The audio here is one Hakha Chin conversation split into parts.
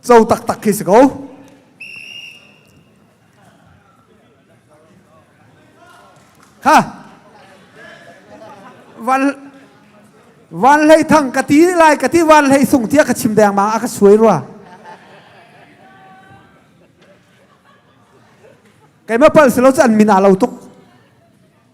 co taktak khi si ko. Ha. Van Van Hlei thang ka ti lai ka ti Van Hlei sung tia ka chim deng ma a ka suai rua. Kei ma pal selo an min a lo tuk.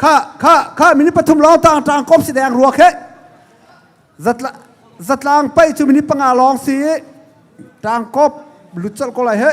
Kha minute pathum lawng tang tang kom si deng ruak he zatlang pai cu minute panga lawng si tang kop lutsal ko lai he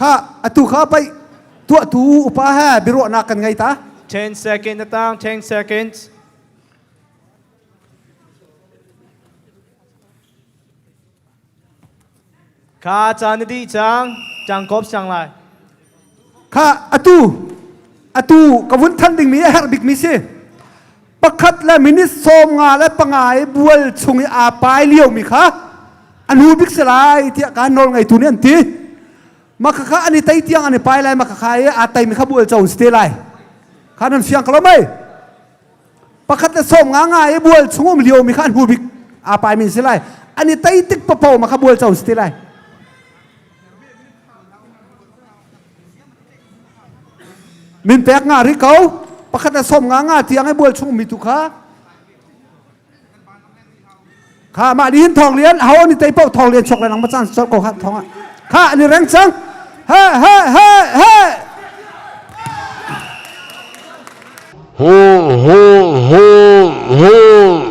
Kha atu kha pai tua tu upa he biruahnak kan ngei ta. 10 seconds atang 10 seconds. Kha ca na dih cang cang kop sang lai. Kha atu atu ka vun than dingmi a herh bikmi si. Pakhat le minit sawm nga le panga i bual chung i aa pai liomi kha an hu bik si lai tiah ka nawl ngeitu nih an ti. Makakha an i tei tiang an i pai lai makakha i aa teimi kha bual co si te lai. Kha nan fiang ko lo mei? pakhat le som nga nga i bual chungum lio mi kha an hu bik a pai min si lai ani tai tik papo ma kha bual cho si ti lai min pek nga ri ko pakhat le som nga nga tiang i bual chungum mi tu kha kha mah ni hin thawng lian ho ni tei poh thawng lian chok le nang macang chol ko hat thawng ah kha ni reng sang he he he he ho ho ho ho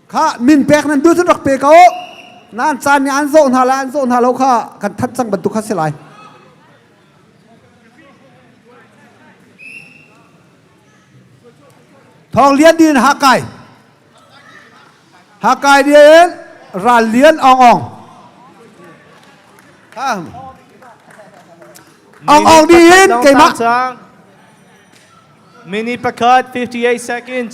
kha min pek nan duh cun rak pe ko nan caan nih an zawh hna lai an zawh hna lo kha kan thanh cang bantuk kha si lai thawng lian din hakai hakai din ral lian ong ong ong ong ni in keimah mini pakhat 58 seconds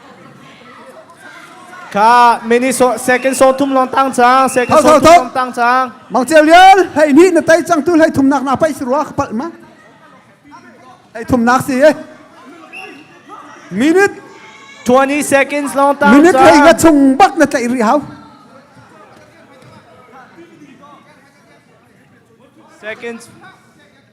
Kha miniso second so thum long tang chang second so thum long tang chang mang cheu lial hei ni na tai chang tu hlei thumnak na pai sirwa khapal ma hei thumnak si e minute 20 seconds long tang minute hei nga chung bak na tlai ri hau seconds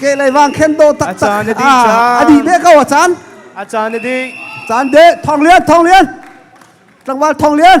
ke lei vang khen do tak tak a di be ko a chan a chan a di chan de thong lian thong lian tlangwal thong lian